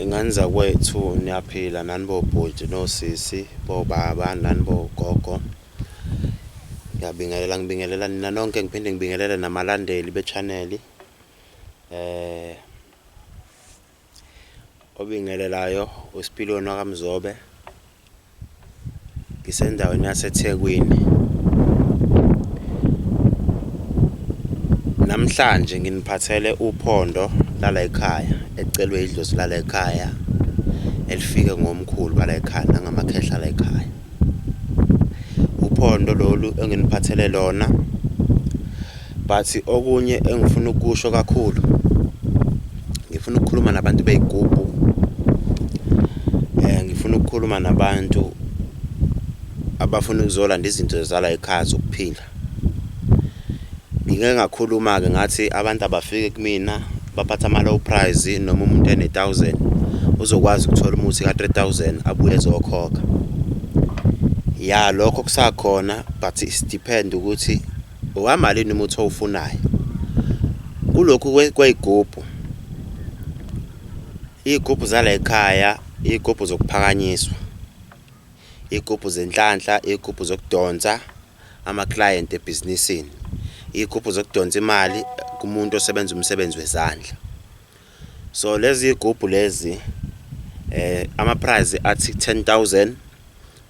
Ingane zakwethu niyaphila nani bobhuti nosisi bobaba nani bogogo, ngiyabingelela ngibingelela nina nonke ngiphinde ngibingelele namalandeli bechaneli. Obingelelayo uSipiliyoni wakaMzobe ngisendaweni yaseThekwini namhlanje nginiphathele uphondo lala ekhaya ecelwe idlozi lala ekhaya elifike ngomkhulu bala ekhaya nangamakhehla la ekhaya uphondo lolu enginiphathele lona But okunye engifuna ukusho kakhulu ngifuna ukukhuluma nabantu beyigubhu eh ngifuna ukukhuluma nabantu abafuna ukuzolanda izinto zala ekhaya zokuphila ngike ngakhuluma ke ngathi abantu abafike kumina baphatha ama low price noma umuntu ene 1000 uzokwazi ukuthola umuthi ka 3000 abuye ezokhokha ya lokho kusakhona but it depend ukuthi Owamalini umuthi owufunayo kulokhu kweyigubhu iyigubhu zala ekhaya iyigubhu zokuphakanyiswa iyigubhu zenhlanhla iyigubhu zokudonsa ama-client ebhizinisini iyigubhu zokudonsa imali kumuntu osebenza umsebenzi wezandla so lezi yigubhu lezi eh ama-prize athi 10000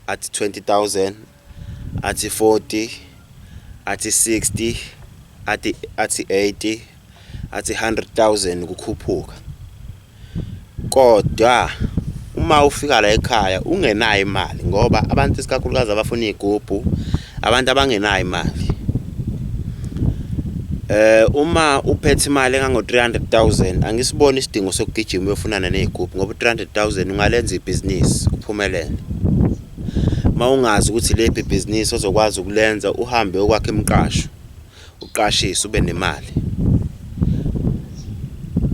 athi 20000 athi 40 athi 60 athi athi 80 athi 100000 kukhuphuka kodwa uma ufika la ekhaya ungenayo imali ngoba abantu isikakhulukazi abafuna igubhu abantu abangenayo imali eh uma uphethe imali engango 300000 angisiboni isidingo sokugijima uyofunana nezigubhu ngoba 300000 ungalenza ibhizinisi uphumelele mawungazi ukuthi lephi ibhizinisi ozokwazi ukulenza uhambe okwakhe emqasho uqashise ube nemali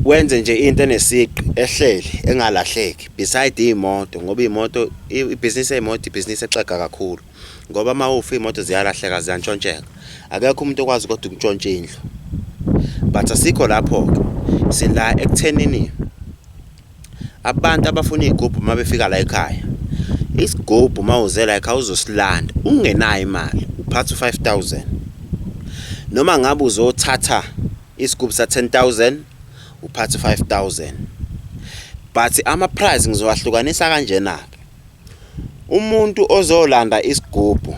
wenze nje into enesiqi ehleli engalahleki beside iy'moto ngoba iy'moto ibhizinisi ey'moto ibhizinisi exega kakhulu ngoba uma ufa iy'moto ziyalahleka ziyantshontsheka akekho umuntu okwazi kodwa ukuntshontsha indlu but asikho lapho-ke sila ekuthenini Abantu abafuna igubhu uma befika la ekhaya isigubhu uma uze la ekhaya uzosilanda ungenayo imali uphatha u-five thousand noma ngabe uzothatha isigubhu sa-ten thousand uphatha u-five thousand but ama-price ngizowahlukanisa kanjena-ke umuntu ozolanda isigubhu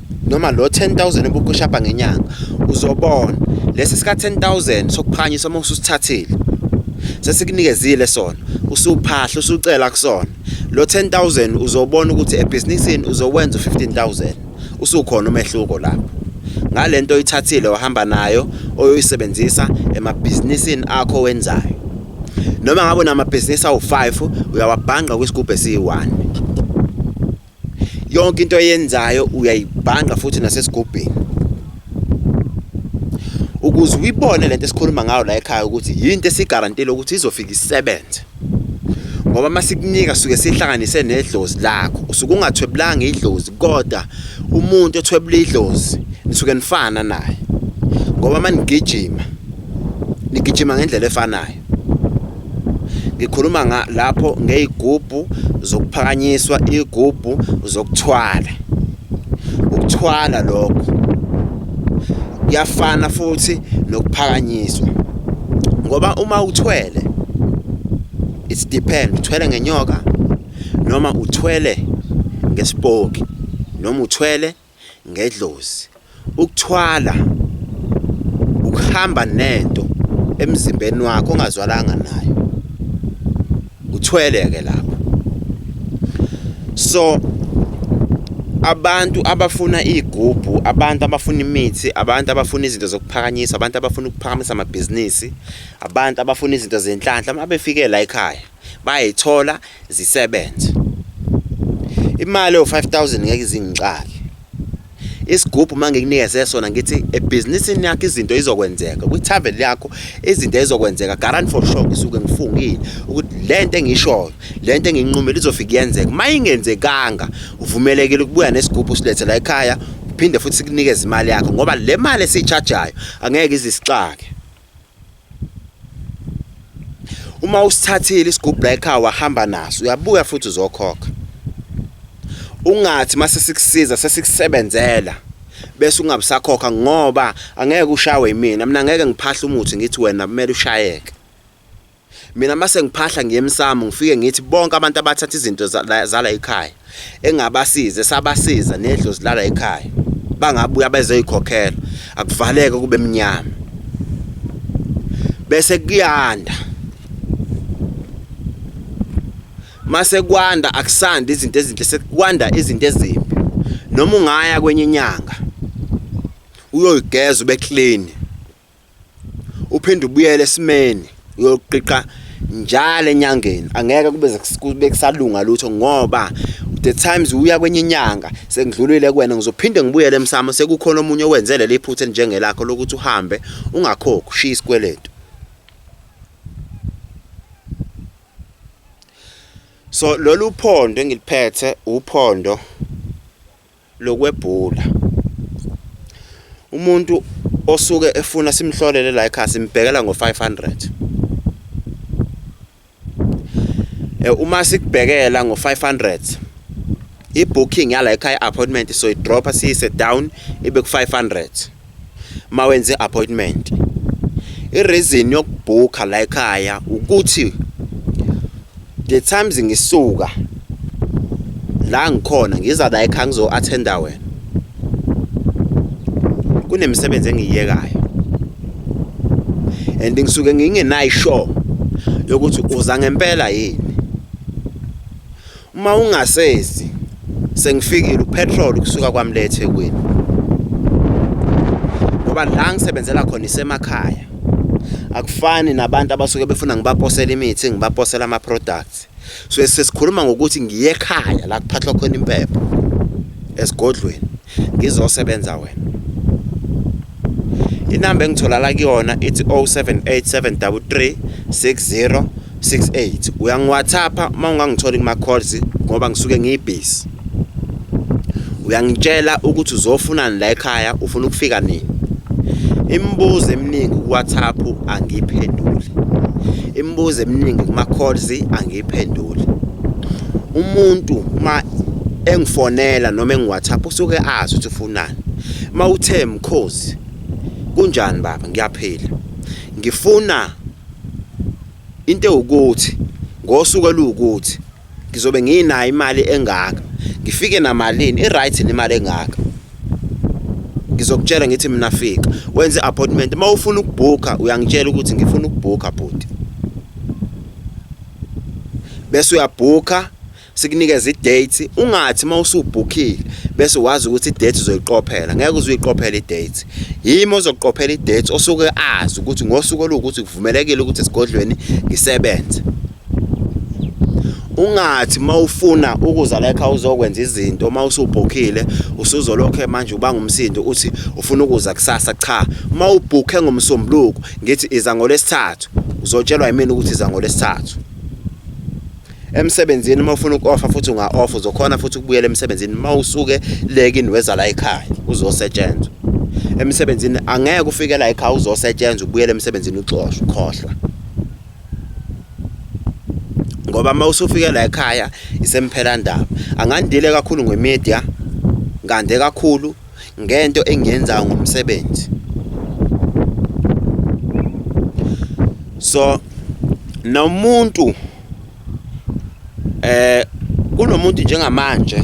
noma lo 10000 obukushapa ngenyanga uzobona lesi sika 10000 sokuphakanyiswa uma ususithathile sesikunikezile sona usuphahla usucela kusona lo 10000 uzobona ukuthi ebhizinisini uzowenza u15000 usukhona umehluko lapho ngalento oyithathile wahamba nayo oyoyisebenzisa emabhizinisini akho wenzayo noma ngabe namabhizinisi awu5 uyawabhanga kwisigubhu esiyi1 yonke into oyenzayo uyayibhanga futhi nasesigubhini ukuze uyibone lento esikhuluma ngayo la ekhaya ukuthi yinto esigarantile ukuthi izofika isebenze ngoba masikunika suke sihlanganise nedlozi lakho usuke ungathwebulanga idlozi kodwa umuntu othwebula idlozi nisuke nifana naye ngoba manigijima nigijima ngendlela efanayo ngikhuluma nga lapho ngeyigubhu zokuphakanyiswa igubhu zokuthwala ukuthwala lokho kuyafana futhi nokuphakanyiswa ngoba uma uthwele it's depend uthwele ngenyoka noma uthwele ngesipoki noma uthwele ngedlozi ukuthwala ukuhamba nento emzimbeni wakho ongazwalanga nayo uthwele ke lapho so abantu abafuna igubhu abantu abafuna imithi abantu abafuna izinto zokuphakanyiswa abantu abafuna ukuphakamisa amabhizinisi abantu abafuna izinto zenhlanhla uma befike la ekhaya bayayithola zisebenze imali yo-5000 ngeke izingixake isigubhu uma ngikunikeze sona ngithi ebhizinisini yakho izinto izokwenzeka kwi-travel yakho izinto ezokwenzeka garant for sure ngisuke ngifungile ukuthi le nto engishoyo le nto enginqumile izofika iyenzeka uma ingenzekanga uvumelekile ukubuya nesigubhu usilethe la ekhaya uphinde futhi sikunikeze imali yakho ngoba le mali esiyitshajayo angeke izisixake uma usithathile isigubhu la ekhaya wahamba naso uyabuya futhi uzokhokha ungathi mase sikusiza sesikusebenzela bese ungabusakhokha ngoba angeke ushawe yimina mina ngeke ngiphahle umuthi ngithi wena kumele ushayeke Mina mase ngiphahla ngiye emsamo ngifike ngithi bonke abantu abathatha izinto zala ekhaya engabasize sabasiza nedlozi lala ekhaya bangabuya bezoyikhokhela akuvaleke kube mnyama bese kuyanda mase kwanda akusandi izinto ezinhle sekwanda izinto ezimbi noma ungaya kwenye inyanga uyoyigeza ube clean uphinde ubuyele esimeni uyoqiqa njalo enyangeni angeke kube kube kusalunga lutho ngoba the times uya kwenye inyanga sengidlulile kuwena ngizophinde ngibuyele emsamo sekukhona omunye owenze leli phutha elinjengelakho lokuthi uhambe ungakhokhi ushiya isikweletu so lolu phondo engiliphethe uphondo lokwebhula umuntu osuke efuna simhlolele la ekhaya simbhekela ngo-500 eh, uma sikubhekela ngo-500 i-booking yala ekhaya appointment so idropha siyise down ibe ku-500 mawenze appointment ireason yokubhukha la ekhaya ukuthi the times ngisuka la ngikhona ngiza la ekhaya ngizo attenda wena kunemisebenzi engiyiyekayo and ngisuke ngingenayo sure yokuthi uza ngempela yini Uma ungasezi sengifikile upetrol kusuka kwamle eThekwini. Ngoba la ngisebenzela khona isemakhaya. Akufani nabantu abasuke befuna ngibaposela imithi, ngibaposela ama products. So sesikhuluma ngokuthi ngiye ekhaya la kuphathwa khona impepho esigodlweni. ngizosebenza wena inamba engitholala kuyona ithi 0787336068 uyangiwhatsappa uma ungangitholi kuma-calls ngoba ngisuke ngiyibhizi uyangitshela ukuthi uzofunani la ekhaya ufuna ukufika nini imibuzo eminingi kuwhatsapp angiyiphenduli imibuzo eminingi kuma-calls iphendule umuntu uma engifonela noma engiwhatsapp usuke azi ukuthi ufunani uma uthe mkhozi kunjani baba ngiyaphila ngifuna into ewukuthi ngosuku oluwukuthi ngizobe nginayo imali engaka ngifike namalini i-right nemali engaka ngizokutshela ngithi mina fika wenze appointment uma ufuna ukubhukha uyangitshela ukuthi ngifuna ukubhukha bhuti bese uyabhukha sikunikeza i-date ungathi uma usubhukhile bese wazi ukuthi i-date uzoyiqophela ngeke uze uyiqophele i-date yimi ozoqophela i-date osuke azi ukuthi ngosuku oluwukuthi kuvumelekile ukuthi esigodlweni ngisebenze ungathi mawufuna ukuza la ekhaya uzokwenza izinto uma usubhukhile usuzolokhe manje uba ngumsindo uthi ufuna ukuza kusasa cha uma ubhukhe ngomsombuluko ngithi iza ngolesithathu uzotshelwa yimina ukuthi iza ngolesithathu emsebenzini uma ufuna uku-offa futhi unga-offa uzokhona futhi ukubuyela emsebenzini uma usuke lekini weza la ekhaya uzosetshenzwa emsebenzini angeke ufike la ekhaya uzosetshenzwa ubuyele emsebenzini uxoshwa ukhohlwa ngoba uma usufike la ekhaya isemphelandaba angandile kakhulu ngemedia ngande kakhulu ngento engiyenzayo ngomsebenzi so nomuntu eh kunomuntu njengamanje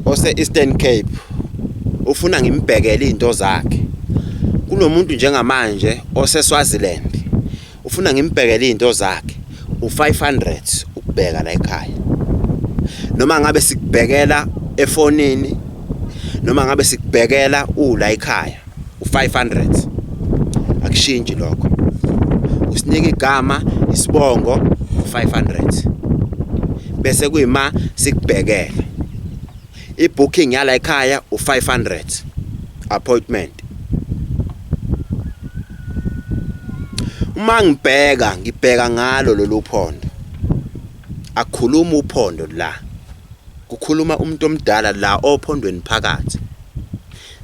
ose Eastern Cape ufuna ngimbhekele izinto zakhe kunomuntu njengamanje ose Swaziland ufuna ngimbhekele izinto zakhe u500 ukubheka la ekhaya noma ngabe sikubhekela efonini noma ngabe sikubhekela ula ekhaya u500 akushintshi lokho usinike igama isibongo u500 bese kuyima sikubhekela I-booking yala ekhaya u-500 appointment. Uma ngibheka ngibheka ngalo lolu phondo. Akhuluma uphondo la. Kukhuluma umuntu omdala la ophondweni phakathi.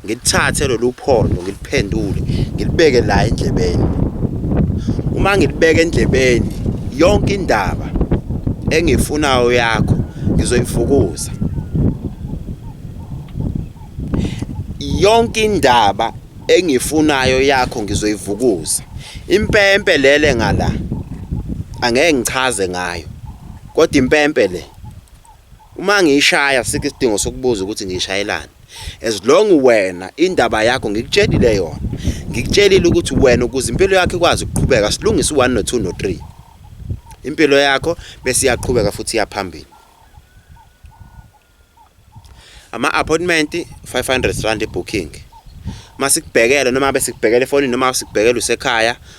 ngilithathe lolu phondo ngiliphendule ngilibeke la endlebeni uma ngilibeke endlebeni yonke indaba engifunayo yakho ngizoyifukuza yonke indaba engifunayo yakho ngizoyivukuza impempe lele ngala angeke ngichaze ngayo kodwa impempe le Uma ngiyishaya sikho isidingo sokubuza ukuthi ngiyishayelani. As long wena indaba yakho ngikutshelile yona. Ngikutshelile ukuthi wena ukuze impilo yakho ikwazi ukuqhubeka silungise u1 no2 no3. Impilo yakho bese iyaqhubeka futhi iyaphambili. Ama appointment 500 rand booking. Masikubhekele noma besikubhekele efonini noma sikubhekele usekhaya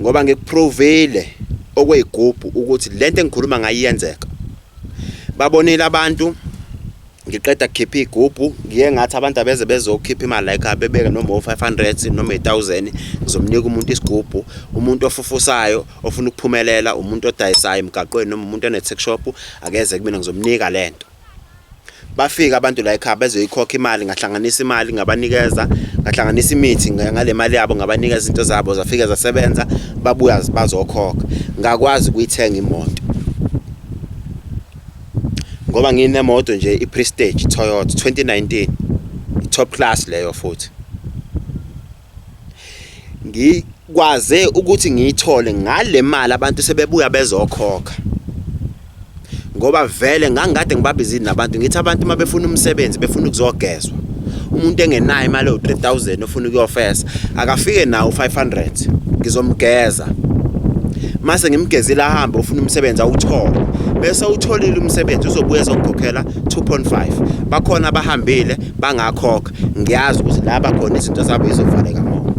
ngoba ngikuprovile okweyigubhu ukuthi lento engikhuluma ngayo iyenzeka babonile abantu ngiqeda kukhipha igubhu ngiye ngathi abantu abeze bezokhipha imali like abebeke noma o500 noma i1000 ngizomnika umuntu isigubhu umuntu ofufusayo ofuna ukuphumelela umuntu odayisayo emgaqweni noma umuntu one tech shop akeze kumina ngizomnika lento bafika abantu la ekhaya bezoyikhokha imali ngahlanganisa imali ngabanikeza ngahlanganisa imithi ngale mali yabo ngabanikeza izinto zabo zafike zasebenza babuya bazokhokha ngakwazi ukuyithenga imoto ngoba nginemoto nje i-prestige toyota 2019 top class leyo futhi ngikwaze ukuthi ngiyithole ngale mali abantu sebebuya bezokhokha ngoba vele ngangikade ngibabizini nabantu ngithi abantu uma befuna umsebenzi befuna ukuzogezwa umuntu engenayo imali ewu-3000 ofuna ukuyofesa akafike nawo u-500 ngizomgeza mase ngimgezile ahambe ufuna umsebenzi awuthole bese utholile umsebenzi uzobuya ezongikhokhela 2.5 bakhona abahambile bangakhokha ngiyazi ukuthi la bakhona izinto zabo izovaleka ngoba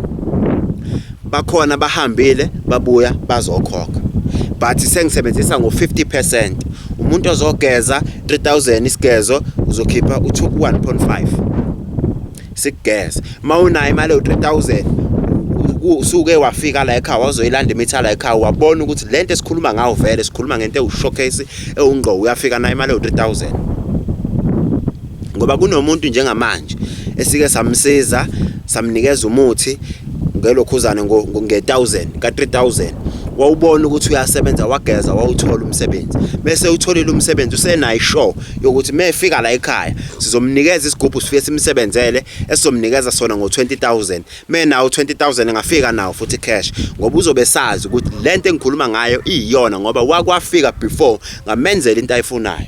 bakhona bahambile babuya bazokhokha but sengisebenzisa ngo-50 percent umuntu ozogeza 3000 isigezo uzokhipha u-1.5 sikugeza uma unayo imali yo-3000 usuke wafika la ekhaya wazoyilanda imitha la ekhaya wabona ukuthi le nto esikhuluma ngawo vele sikhuluma ngento ewushowcase ewungqo uyafika nayo imali yo-3000 ngoba kunomuntu njengamanje esike samsiza samnikeza umuthi ngelokhuzane nge-1000 ka-3000 wawubona ukuthi uyasebenza wageza wawuthola umsebenzi bese utholile umsebenzi usenayo show yokuthi mefika la ekhaya sizomnikeza isigubhu sifike simsebenzele esizomnikeza sona ngo-20000 menawo 20000 engafika nawo futhi cash ngoba uzobe sazi ukuthi le nto engikhuluma ngayo iyiyona ngoba wakwafika before ngamenzela into ayifunayo